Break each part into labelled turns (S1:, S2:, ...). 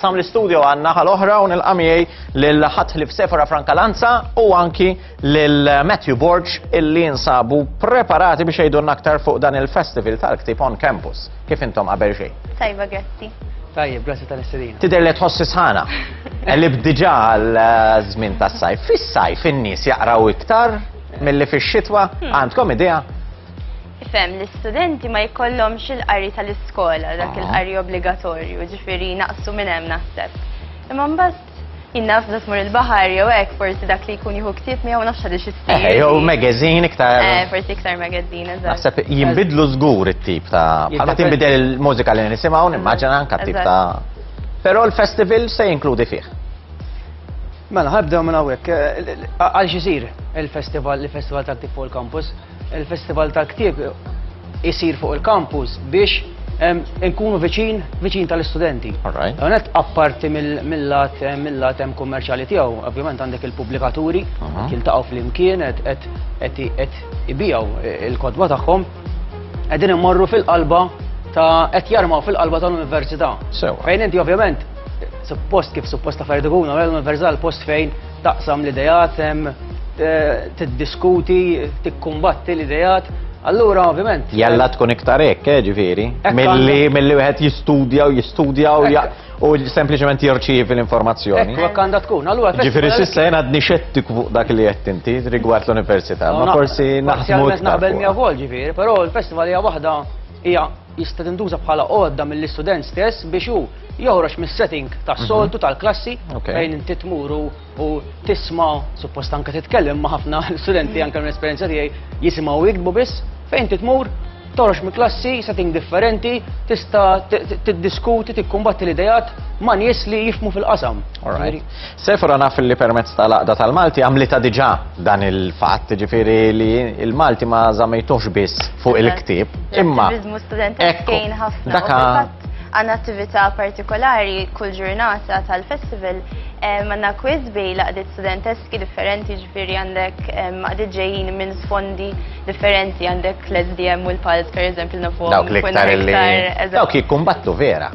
S1: Sam l-istudio għal naħa l-oħra u nilqa' miegħi lil ħadd ħlief Sefora Franca Lanza u anki lil Matthew Borg illi jinsabu preparati biex jgħidulna aktar fuq dan il-Festival tal-Ktieb on Campus. Kif intom qabel xejn? Tajba, grazzi. Tajjeb, grazzi tal-istilina. Tidher li tħossi sħana. Elib diġà għal eh, żmien tas-sajf. Fis-sajf in-nies jaqraw iktar milli fix-xitwa. Hmm. Għandkom idea? Ifhem li studenti ma jkollhomx il-qari tal-iskola, dak il-qari obbligatorju, ġifieri naqsu minn hemm naħseb. Imma mbagħad jien naf meta tmur il-baħar jew hekk forsi dak li jkun jieħu ktieb miegħu nafx għaliex issir. Eh, jew magazine iktar. Eh, forsi iktar magazine, eżatt. Naħseb jinbidlu żgur it-tip ta' bħalma tinbidel il-mużika li nisimgħu nimmaġina anke tip ta' Però l-festival se jinkludi fih. Mela, ħabdew minn hawnhekk. Eh, għal xisir il-festival, il-festival ta' Tifol Campus. Il-Festival tal-Ktieb isir fuq il-kampus biex nkunu viċin, viċin tal-istudenti. Għonet apparti mill-lat, mill-lat hemm kummerċali tiegħu, ovvjament għandek il-pubblikaturi, jiltaqgħu fl-imkien, qed ibijaw il-kodba tagħhom, qegħdin immorru fil-qalba ta' qed jarmaw fil-qalba tal-università. Fejn inti ovvjament suppost kif suppost ta' ferdikuna, l-università l-post fejn Taqsam l-idejat, tiddiskuti, tikkumbatti l-idejat, Allura, ovvjament. Jalla tkun iktar hekk, eh, ġifieri. Milli milli wieħed jistudja u jistudja u u sempliċement jirċievi l-informazzjoni. Ekku, hekk għandha tkun. Allura Ġifieri s'issa jien għadni xettiku fuq dak li qed inti rigward l-università, ma forsi naħsmu iktar. Naqbel miegħu wkoll ġifieri, però l-festival hija waħda hija jista' tintuża bħala għodda mill-istudent stess biex hu joħroġ mis-setting tas-soltu mhm. tal-klassi fejn inti tmur u tisma' suppost anke titkellem ma' ħafna studenti anke minn esperjenza tiegħi jisimgħu jiktbu biss fejn titmur toħroġ mill klassi setting differenti, tista' tiddiskuti, tikkumbatti l-idejat ma' nies li jifmu fil-qasam. Sephora naf illi permezz ta' l-Għaqda tal-Malti għamlitha diġà dan il-fatt, jiġifieri li l-Malti ma żammejtuhx biss fuq il-ktieb, imma L-attiviżmu studentesku jgħin ħafna. U fil-fatt għandna attività partikolari kull ġurnata tal-festival, għandna quiz bejn l-għaqdiet studenteski differenti, jiġifieri għandek għaqdiet ġejjin minn sfondi, differenti għandek l-SDM u l-pals per eżempju nafu. Dawk li ktar li. Dawk jikkumbattu vera.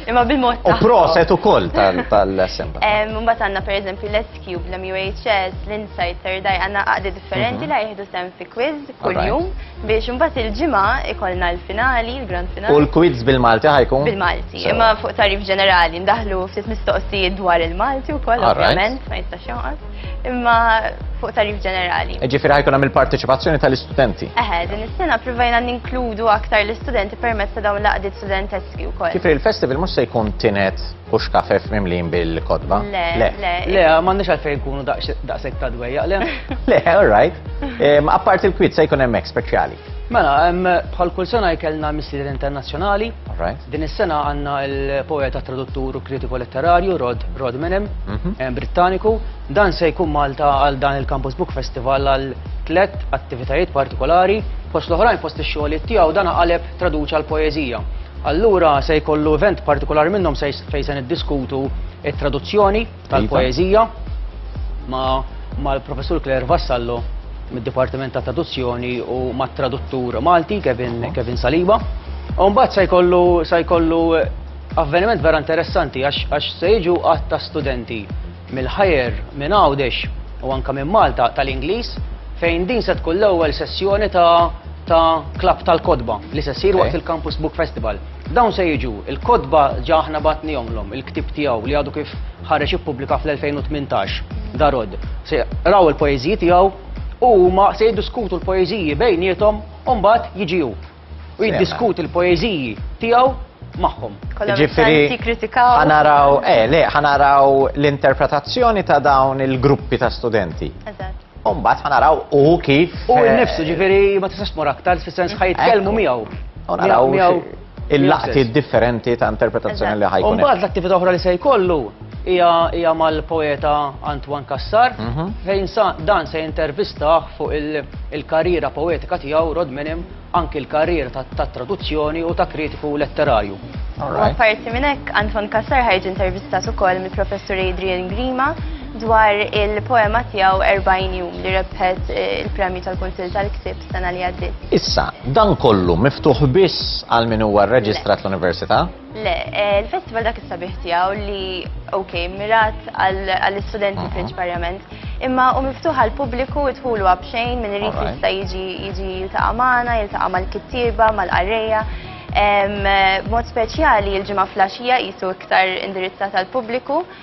S1: Imma bil-mod. U proset u koll tal-semba. Mumbat għanna per eżempju l-SQ, l-MUHS, l-Insight, Terdaj, għanna għaddi differenti mhm. li jihdu sem fi quiz kull-jum biex mumbat il-ġimma ikolna l-finali, l-grand finali. U l-quiz bil-Malti ħajkun? Bil-Malti, imma fuq tarif ġenerali, ndaħlu ftit mistoqsijiet dwar il-Malti u koll, ovvjament, ma jistax imma fuq tarif ġenerali. E ġifiri ħajkun għamil il-parteċipazzjoni tal-istudenti. Eħe, din is-sena provajna ninkludu aktar l-istudenti permezz ta' dawn l-qdiet studenteski wkoll. Ġifiri il-festival mhux se jkun tinet u xkafef mimlin bil-kotba. Le, le. Le, m'għandniex għalfejn jkunu daqshekk ta' dwejja, le. Le, all right. Apparti l-kwit se jkun hemmhekk speċjali. Mela, bħal kull sena jkellna missier internazzjonali. Din is-sena għandna l-poeta traduttur u kritiku letterarju Rod Rod Menem, mhm. eh, Brittaniku. Dan se jkun Malta għal dan il-Campus Book Festival għal tlet attivitajiet partikolari. Fost l-oħrajn fost ix-xogħlijiet tiegħu dan għaleb traduċa l-poeżija. Allura se jkollu event partikolari minnhom fejn se niddiskutu it-traduzzjoni tal-poeżija mal-Professur Claire Vassallo mid-Dipartiment ta' Traduzzjoni u mat-traduttur Malti Kevin Saliba. U mbagħad se jkollu se jkollu avveniment vera interessanti għax se jiġu għadd ta' studenti mill-ħajer minn Għawdex u anke minn Malta tal-Ingliż fejn din se tkun l-ewwel sessjoni ta' ta' klabb tal-kotba li se ssir waqt il-Campus Book Festival. Dawn se jiġu l-kotba ġa aħna batnihomlhom, il-ktieb tiegħu li għadu kif ħareġ ippubblika fl-2018, Darod. Se raw il-poeżiji tiegħu u huma se jiddiskutu l-poeżiji bejniethom u mbagħad jiġi hu. U jiddiskuti l-poeżiji tiegħu magħhom. Ġifieri ħanaraw eh, le, ħanaraw l-interpretazzjoni ta' dawn il-gruppi ta' studenti. Umbat ħanaraw u kif. U eh, nifsu ġifiri ma tistax tmur aktar fis-sens ħajtkellmu miegħu. U naraw il-laqti differenti ta' interpretazzjoni li ħajkun. Umbat l-attività oħra li se jkollu hija mal-poeta Antoine Kassar, mhm. fejn dan se intervistaħ fuq il-karriera poetika tiegħu Rod Minim anki l-karriera ta' traduzzjoni u ta' kritiku letterarju. U apparti minn hekk, Anton Cassar ħajġi intervistat ukoll mill-Professur Adrian Grima dwar il-poema tiegħu 40 jum li rebħet eh, il-premju tal-Kunsil tal-Ktib sena li għaddiet. Issa, dan kollu miftuħ biss għal min huwa rreġistrat l-Università? Le, eh, il-festival dak is-sabiħ tiegħu li ok, mirat għall-istudenti mhm. prinċiparjament, imma u miftuħ għal pubbliku idħulu għabxejn minn irid jista' jiġi jiġi jiltaqa' magħna, jiltaqa' mal-kittieba, mal-qarrejja. Mod speċjali il-ġimgħa flaxija jisu iktar indirizzata għal pubbliku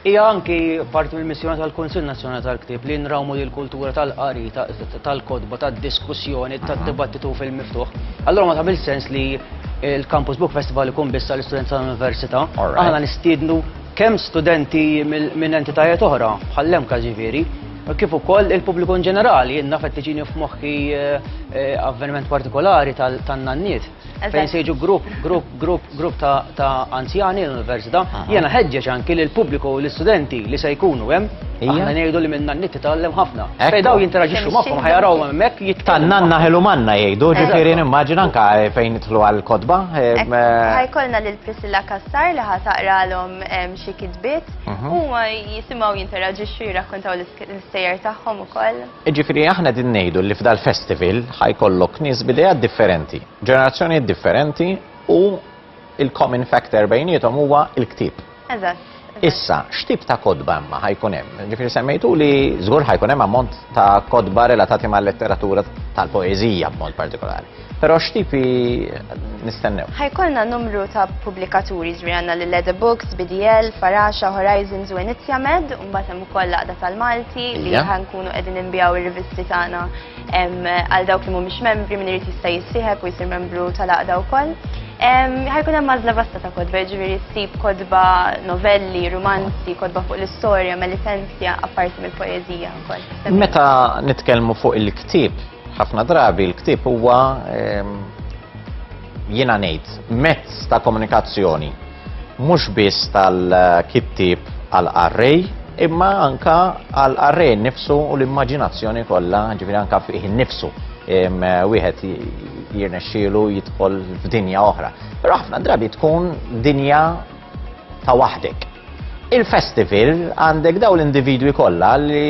S1: Hija anki parti mill-missjoni tal-Kunsill Nazzjonali tal-Ktieb li nrawmu lil kultura tal-qari, tal-kotba, tad-diskussjoni, tad-dibattitu fil-miftuħ. Allura ma tagħmilx sens li l-Campus Book Festival ikun biss għall-istudenti tal-università. Aħna nistiednu kemm studenti minn entitajiet oħra, bħall-MCAS ġifieri, kif ukoll il-pubbliku in ġenerali. Jien naf qed tiġini f'moħħi avveniment partikolari tan-nanniet. Fejn se jiġu grupp, grupp, grupp, grupp ta', ta anzjani l-Università, jiena ħeġġeġ anki lil pubbliku u l-istudenti li se jkunu hemm. Aħna ngħidu li minna n-nitti tgħallem ħafna. Fejn daw jinteraġixxu magħhom ħajaraw hemmhekk jitkellmu. Tan-nanna ħelu manna jgħidu, ġifieri nimmaġina anka eh, fejn nidħlu għall-kotba. Eh, eh. Ħajkolna lil Priscilla Kassar li ħataqralhom xi kitbiet mhm. u jisimgħu jinteraġixxu jirrakkontaw l-istejjer tagħhom ukoll. Jiġifieri aħna qegħdin ngħidu li f'dal-festival ħa jkollok nies b'ideat differenti, ġenerazzjonijiet differenti u l-common factor bejniethom huwa l-ktieb. Eżatt. Issa, x'tip ta' kotba imma ħa jkun hemm? Jiġifieri semmejtuli żgur ħa jkun hemm ammont ta' kotba relatati mal-letteratura tal-poeżija b'mod partikolari. Però x'tipi nistennew? Ħajkolna numru ta' pubblikaturi ġri għandna lil Leather Books, BDL, Faraxa, Horizons u Inizja Med, u mbagħad hemm ukoll laqda tal-Malti li ħankunu qegħdin inbijaw ir-rivisti tagħna għal dawk li mhumiex membri min irid jista' jissieħeb u jsir membru tal-laqda wkoll. Ħajkun hemm mażla vasta ta' kodba, ġifieri ssib kodba novelli, romanzi, kodba fuq l-istorja, melitenzja, apparti mill-poeżija wkoll. Meta nitkellmu fuq il-ktieb, Ħafna drabi l-ktieb huwa ehm, jiena ngħid mezz ta' komunikazzjoni mhux biss tal-kittieb għal arrej imma anka għal arrej nifsu u l-immaġinazzjoni kollha ġifieri anka fih nifsu ehm, wieħed jirnexxielu jidħol f'dinja oħra. Però ħafna drabi tkun dinja ta' waħdek. Il-festival għandek daw l-individwi kollha li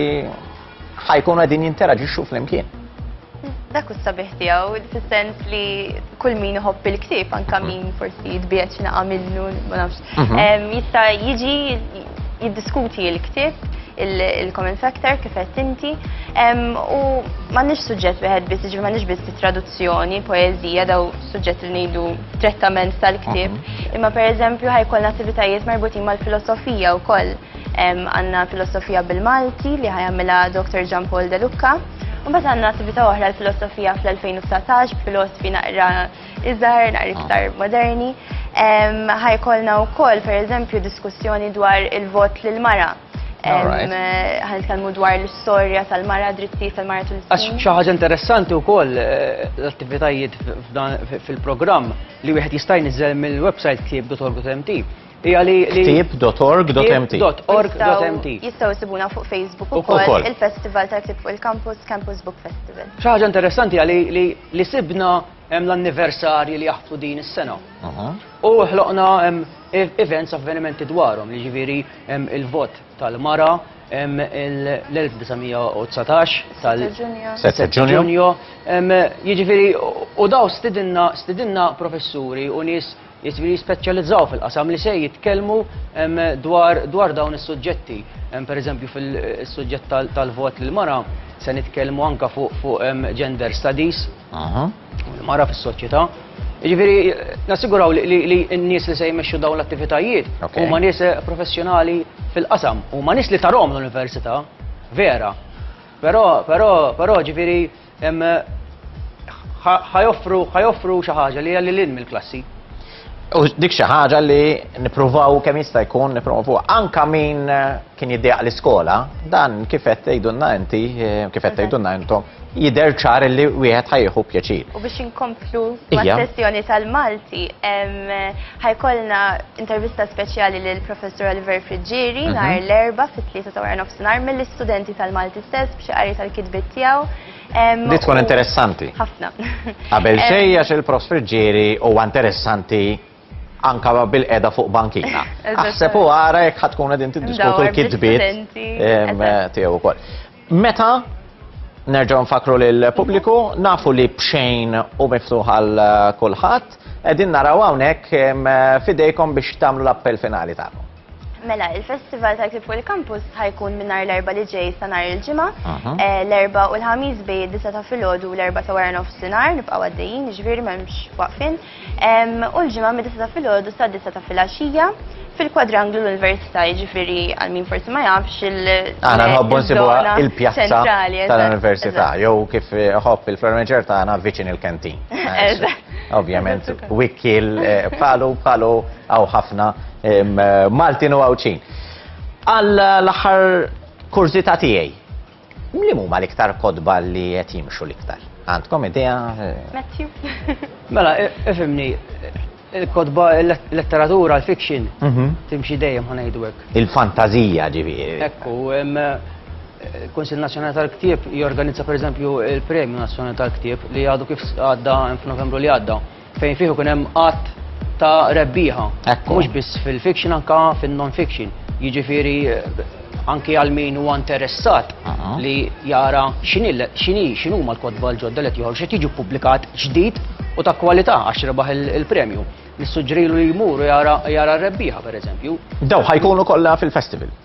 S1: ħa jkunu qegħdin jinteraġixxu flimkien. Dak u sabiħ tiegħu, fis-sens li kull min iħobb il-ktieb anke mhm. min forsi jitbiegħed xi naqa' minnu, ma nafx. Mhm. Jista' jiġi jiddiskuti l-ktieb il-common factor kif qed inti u m'għandniex suġġett wieħed biss, ġifieri m'għandniex biss traduzzjoni, poeżija daw suġġett li ngħidu trettament tal-ktieb, mhm. imma pereżempju ħajkolna attivitajiet marbutin mal-filosofija wkoll. Għandna filosofija bil-Malti li ħajamilha Dr. Gian Paul De Lucca. U mbagħad għandna attività oħra l-filosofija fl-2019 filosfi naqra iżgħar, naqra iktar ah. moderni. Ħajkolna wkoll pereżempju diskussjoni dwar il-vot lil mara ħanitkellmu dwar l-istorja tal-mara dritti tal-mara tul Għax xi ħaġa interessanti wkoll eh, l-attivitajiet fil-programm li wieħed jista' jniżel mill-website ktieb.org.mt Hija li ktib.org.mt. Ktib.org.mt. Jistgħu jsibuna fuq Facebook ukoll il-Festival tal-Ktib fuq il-Campus Campus Book Festival. Xi ħaġa interessanti għali li sibna hemm l-anniversarji li jaħtu din is-sena. U ħloqna events avvenimenti dwarhom, li ġifieri il-vot tal-mara, l-1919 tal-7 ġunju. Jiġifieri u daw stidinna professuri u nies jiġifieri jispeċjalizzaw fil-qasam li se jitkellmu dwar dawn is-suġġetti. Pereżempju fil-suġġett tal-vot lill-mara se nitkellmu anke fuq gender studies u l-mara fis-soċjetà. Jiġifieri nassiguraw li n-nies li se jmexxu dawn l-attivitajiet huma nies professjonali fil-qasam, huma nies li tarahom l-università vera. Però però però jiġifieri ħa joffru xi ħaġa li hija lil hinn mill-klassi. U dik xi ħaġa li nippruvaw kemm jista' jkun nippromovu anka min eh, kien jiddejaq l-iskola, dan kif qed tgħidulna inti, eh, kif qed tgħidulna intom, jidher ċar li wieħed ħajħu pjaċir. U biex inkomplu sessjoni tal-Malti, Ħa jkollna intervista speċjali lill-Professur Oliver Friggieri nhar l-Erbgħa fit-tlieta ta' wara nofsinhar mill-istudenti tal-Malti stess b'xi qari tal-kitbiet tiegħu. Di tkun interessanti. Ħafna. Qabel xejn għax il-Prof Friggieri huwa interessanti anke bil-qegħda fuq bankina. Aħseb u ara jekk ħa tkunu qegħdin tiddiskutu l-kitbiet tiegħu wkoll. Meta nerġgħu nfakru lil pubbliku nafu li bxejn u miftuħ għal kulħadd, qegħdin naraw hawnhekk fidejkom biex tagħmlu l-appell finali tagħkom. Mela, il-Festival ta' Klib fuq il-Kampus ħajkun minnar l-erba li ġej sa nar il-ġimgħa, eh, l-erba u l-ħamis bej id-disa ta' filgħodu u l-erba ta' wara nofsinhar nibqgħu għaddejjin, jiġifieri m'hemmx waqfin. u l-ġimgħa mid-disa ta' filgħodu sa' disa ta' filgħaxija fil-kwadranglu l-Università jiġifieri għal min forsi ma jafx il Aħna nħobbu nsibuha il-pjazza tal-Università jew kif ħobb il-fermeġer tagħna viċin il-kantin. Ovvjament, wikkil eh, palu palu għaw ħafna Maltin u għawċin. Għal l-aħħar kurzita tiegħi Li huma l-iktar kotba li qed jimxu l-iktar? Għandkom idea? Matthew. Mela, ifimni, il-kotba, il-letteratura, il-fiction, mhm. timxi dejjem ħanajdu hekk. Il-fantazija ġifieri. Ekku, il-Kunsil Nazzjonali tal-Ktieb jorganizza pereżempju il-Premju Nazzjonali tal-Ktieb li għadu kif għadda f'Novembru li għadda. Fejn fih ikun hemm qatt ta' rebbieħa. Mhux biss fil-fiction anka fin-non-fiction. Jiġifieri anki għal min huwa interessat li jara x'inhi x'inhuma l-kotba l-ġodda li qed joħorġu x'qed jiġu ppubblikat ġdid u ta' kwalità għax rebaħ il-premju. Nissuġġerilu li jmur u jara r-rebbieħa pereżempju. Dawn ħajkunu kollha fil-festival?